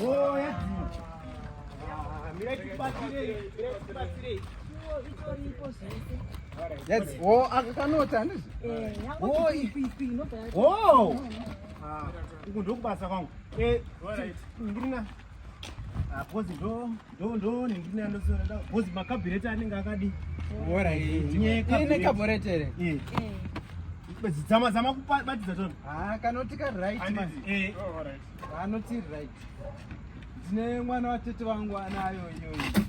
Oh, That's oh, akakanota handizi. Eh, oh, ipi ipi inobva. Oh. Ah, uku ndokubasa kwangu. Eh, ndiri na. Ah, because ndo Ndo ndo ningine ndo sio ndo. Bozi makabirete anenge akadi. Bora hii. Nye kabirete. Ine kabirete re. Eh. Eh. Bezi zama zama kubatiza tona. Ah, kanoti ka right man. Eh. Oh, all right. Kanoti ah, right. Zine mwana wa tete wangu anayo yoyo.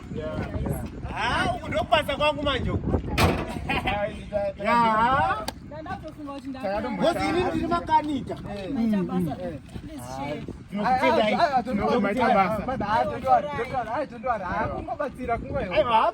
Ah, uku ndokubasa kwangu manje uku. Yeah. Ngozi ini ndiri makanika. Aiwa,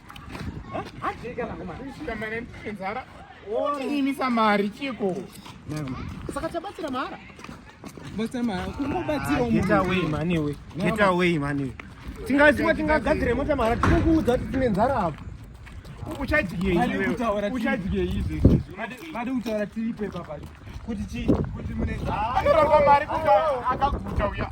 Imisa mari chiko saka tabatsira mahara tingaziva tingagadzire mota mahara tinokuudza kuti tine nzara apo uchadyeizvade kutaura tiripe baba kuti chii kuti mune akaguta uya